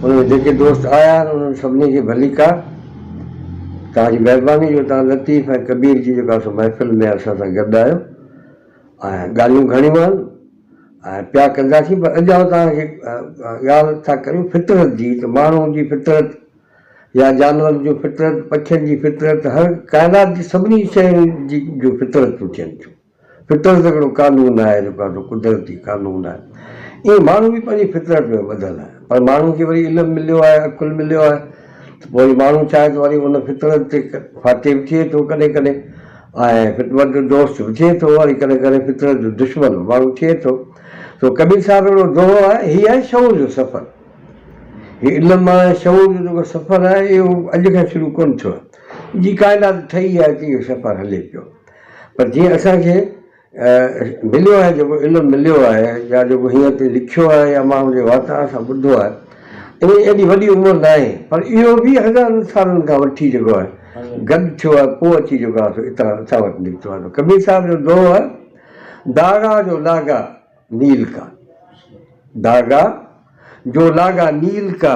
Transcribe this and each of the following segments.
ان ۾ جيڪي دوست آيا آهن، انهن سڀني کي ڀليڪا. توهان جي مهرباني جو توهان لطيف ۽ ڪبير جي جيڪا سو محفل ۾ اسان سان گڏ آهيو ۽ ڳالهيون گهڻيون آهن ۽ پيا ڪنداسين پر اڄ آئون توهان کي ڳالهه ٿا ڪريون فطرت جي ته ماڻهو جي فطرت يا جانورن جون فطرت، پکين جي فطرت هر ڪائنات جي سڀني شين جي جو فطرتون ٿين ٿيون. فطرت هڪڙو قانون آهي جيڪو اسان جو قدرتي قانون آهي. ايئن ماڻهو به پنهنجي فطرت ۾ ٻڌل آهي. پر ماڻهو کي وري علم مليو آهي، عقل مليو آهي ته پوء وري ماڻهو چاهي ته وري ان فطرت تي فاتح به ٿئي ٿو ڪڏهن ڪڏهن ۽ فطرت جو دوست به ٿئي ٿو ۽ ڪڏهن ڪڏهن فطرت جو دشمن به ماڻهو ٿئي ٿو. سو ڪبير صاحب هڪڙو دوهو آهي، هي آهي شعور جو سفر. هي علم ۽ شعور جو جيڪو سفر آهي اهو اڄ کان شروع ڪونه ٿيو آهي. جي ڪائنات ٺهي آهي تي اهو سفر هلي پيو. پر جيئن اسان کي مليو آهي جيڪو علم مليو آهي يا جيڪو هيئن اتي لکيو آهي يا ماڻهن جي واتان اسان ٻڌو آهي انهي جي ايڏي وڏي عمر ناهي پر اهو به هزارن سالن کان وٺي جيڪو آهي گڏ ٿيو آهي پوء اچي جيڪو آهي سو اتان اسان وٽ نڪتو آهي ڪبير صاحب جو دوهو آهي داغا جو لاڳا نيل ڪا داغا جو لاڳا نيل ڪا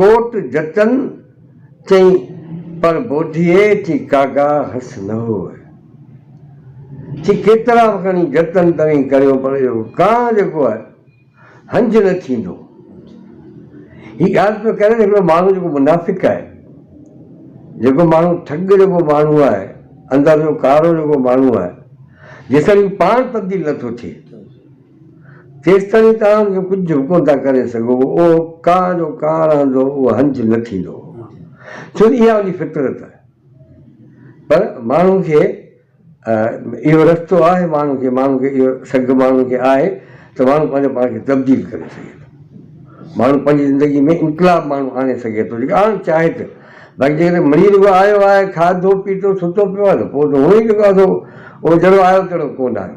ڪوٽ جتن چئي پر بوڌيء چي ڪاگا هس نه هوء. چي ڪيترا به کڻي جتن توهين ڪريو پر اهو ڪانء جيڪو آهي هنج نه ٿيندو. هي ڳالهه پيو ڪري ته هڪڙو ماڻهو جيڪو منافق آهي، جيڪو ماڻهو ٺڳ جيڪو ماڻهو آهي، اندر جو ڪارو جيڪو ماڻهو آهي، جيسين هو پاڻ تبديل نه ٿو ٿئي. ڪيستائين توهان کي ڪجهه به ڪونه ٿا ڪري سگهو، اهو ڪا جو ڪا رهندو، اهو هنج نه ٿيندو، ڇو ته اها ان جي فطرت آهي. پر ماڻهو کي اهو رستو آهي، ماڻهو کي ماڻهو کي اهو سگهه ماڻهو کي آهي ته ماڻهو پنهنجو پاڻ کي تبديل ڪري سگهي ٿو. ماڻهو پنهنجي زندگي ۾ انقلاب ماڻهو آڻي سگهي ٿو، جيڪڏهن آڻڻ چاهي ته. باقي جيڪڏهن مڙيئي رڳو آيو آهي، کاڌو پيتو، ستو پيو آهي ته پوء ته هونئن ئي جيڪو آهي سو اهو جهڙو آيو تهڙو ڪونه آهي.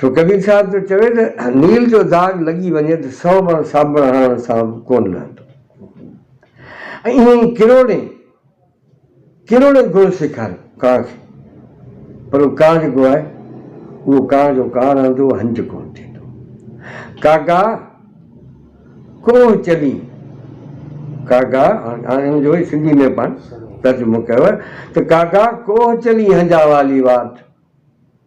سو ڪبير صاحب ٿو چوي ته نيل جو داغ لڳي وڃي ته سئو ڀر صابڻ هڻڻ سان به ڪونه لهندو. ۽ ائين ئي ڪروڙين ڪروڙين گڻ سيکاريو ڪانء کي پر هو ڪانء جيڪو آهي اهو ڪانء جو ڪانء رهندو هنج ڪونه ٿيندو. ڪاڳا ڪوهه چلين ڪاڳا هاڻي ان جو ئي سنڌي ۾ پاڻ ترجمو ڪيو آهي ته ڪاڳا ڪوهه چلين هنجا والي واٽ.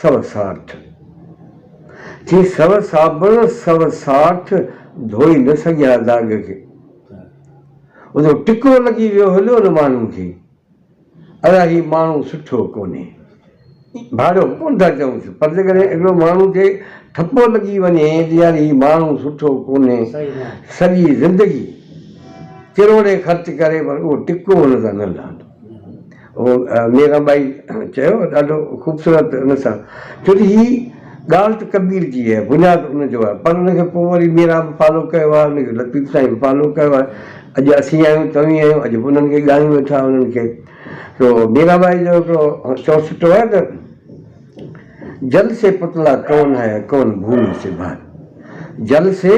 سوسارٿ جي سو صابڻ سوسارٿ ڌوئي نه سگهيا داغ کي ان جو ٽڪو لڳي ويو هليو ان ماڻهو کي ادا هي ماڻهو سٺو ڪونهي ڀاڙو ڪون ٿا چون پر جيڪڏهن هڪڙو ماڻهو کي ٺپو لڳي وڃي ته يار هي ماڻهو سٺو ڪونهي سڄي زندگي ڪروڙين خرچ ڪري پر اهو ٽڪو هن سان نه لهندو ميران ٻائي چيو ڏاڍو خوبصورت ان سان ڇو جو هي ڳالهه ته ڪبير جي آهي بنياد ان جو آهي پر ان کي پوء وري ميران به فالو ڪيو آهي ان کي لطيف سائين به فالو ڪيو آهي اڄ اسين آهيون توهين آهيو اڄ به انهن کي ڳايون ويٺا انهن کي تو ميران ٻائي جو هڪڙو چوڻ سٺو آهي ته جل سي پتلا ڪون هي ڪون ڀومي سي ڀائي جل سي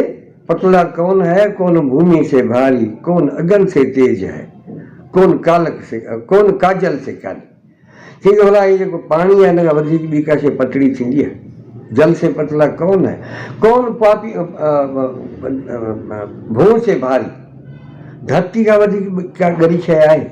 پتلا ڪون هي ڪون ڀومي سي ڀاري ڪون اگن سي تيز هي ڪون ڪالڪ سي ڪون ڪاجل سي ڪالي چئي ٿو ڀلا هي جيڪو پاڻي آهي ان کان وڌيڪ ٻي ڪا شيء پتڙي ٿيندي آهي جل سي پتلا ڪون هي ڪون پاپي ڀونء سي ڀاري ڌرتي کان وڌيڪ ڪا ڳري شيء آهي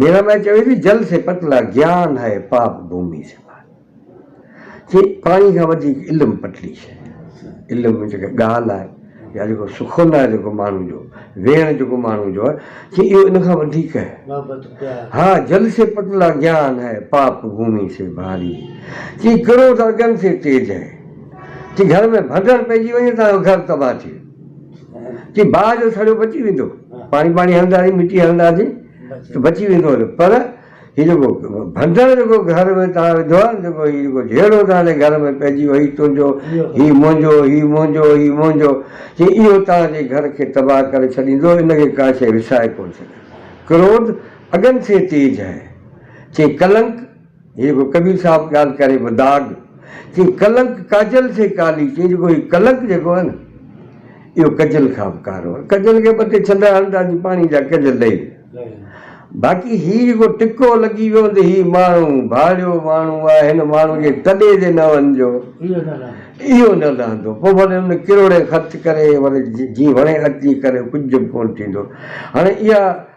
ميرا مائي چوي ٿي جل سي پتلا گيان هي پاپ ڀومي سي پار چي پاڻي کان وڌيڪ علم پتلي شي آهي علم ۾ جيڪا ڳالهه آهي يا جيڪو سخن آهي جيڪو ماڻهو جو ويهڻ جيڪو ماڻهو جو آهي چي اهو ان کان وڌيڪ آهي ها جل سي پتلا گيان هي پاپ ڀومي سي ڀاري چي ڪروڌ اگن سي تيج هي چي گهر ۾ ڀنڊڙ پئجي وڃي ته گهر تباهه ٿي ويندو ڪي باهه جو سڙيو بچي ويندو پاڻي پاڻي هلنداسين مٽي هلنداسين ته بچي ويندو پر هي جيڪو ڀنڊر جيڪو گهر ۾ تان وڌو آهي جيڪو هي جيڪو جهيڙو تان جي گهر ۾ پئجي ويو هي تنهنجو هي منهنجو هي منهنجو هي منهنجو جي اهو تان جي گهر کي تباهه ڪري ڇڏيندو ان کي ڪا شيء وسائي ڪونه سگهندي ڪروڌ اگن سي تيج هي چي ڪلنڪ هي به ڪبير صاحب ڳالهه ڪري به داغ چين ڪلنڪ ڪاجل سي ڪالي چين جيڪو هي ڪلنڪ جيڪو آهي نه اهو ڪجل کان به ڪارو آهي ڪجل کي ٻه ٽي ڇنڊا هڻدا جي پاڻي جا ڪجل ڏئي باقي هي جيڪو ٽڪو لڳي ويو ته هي ماڻهو ڀاڙيو ماڻهو آهي هن ماڻهو جي تڏي تي نه وڃجو اهو نه لهندو پوء ڀلي هن ڪروڙين خرچ ڪري ڀلي جي وڻي اچي ڪري ڪجهه به ڪون ٿيندو هاڻي اها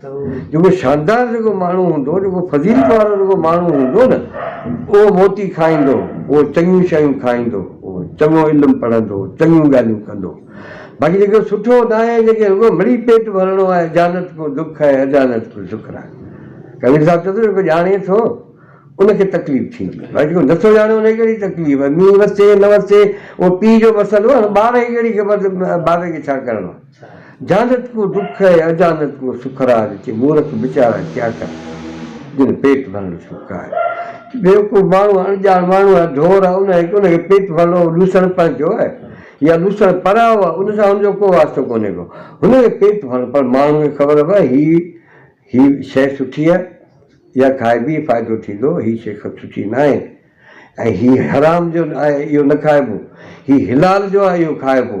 جيڪو شاندار جيڪو ماڻهو هوندو، جيڪو فضيلت وارو جيڪو ماڻهو هوندو نه، اهو موتي کائيندو، اهو چڱيون شيون کائيندو، اهو چڱو علم پڙهندو، چڱيون ڳالهيون ڪندو. باقي جيڪو سٺو ناهي، جنهن کي رڳو مڙئي پيٽ ڀرڻو آهي، اجانت ڪو دک ۽ اجانت ڪو شڪر آهي. ڪبير صاحب چوندو، جيڪو ڄاڻي ٿو، ان کي تڪليف ٿيندي آهي. باقي جيڪو نه ٿو ڄاڻي، ان کي ڪهڙي تڪليف آهي. مينهن وسي نه وسي، اهو پيء جو مسئلو آهي. هاڻي ٻار کي ڪهڙي خبر ته بابي کي ڇا ڪرڻو آهي. جانت ڪو ڏک ۽ اجانت ڪو سک راج چي مورک بيچارا ڪيا ڪن جن پيٽ ڀرڻ سک آهي بيوقوف ماڻهو اڻڄاڻ ماڻهو آهي ڍور آهي ان کي ان کي پيٽ ڀرڻو لوسڻ پنهنجو آهي يا لوسڻ پرايو آهي ان سان هن جو ڪو واسطو ڪونهي ڪو هن کي پيٽ ڀرڻ پر ماڻهو کي خبر پئي هي هي شيء سٺي آهي يا کائبي فائدو ٿيندو هي شيء سٺي نه آهي ۽ هي حرام جو آهي اهو نه کائبو هي حلال جو آهي اهو کائبو.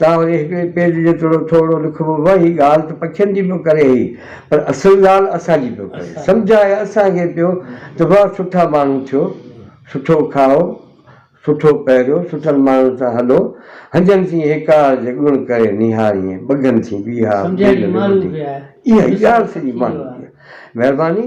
تان وري هڪڙي پيج جيترو ٿورڙو لکبو به هي ڳالهه ته پکين جي پيو ڪري هي پر اصل ڳالهه اسان جي پيو ڪري سمجهائي اسان کي پيو ته واهه سٺا ماڻهو ٿيو سٺو کائو سٺو پهريو سٺن ماڻهن سان هلو هنجن ٿي هيڪار جي ڳڻ ڪري نهاريين ٻگهن ٿي بيهار ٻيل رڳو ٿي اها ئي ڳالهه سڄي ماڻهن جي آهي مهرباني.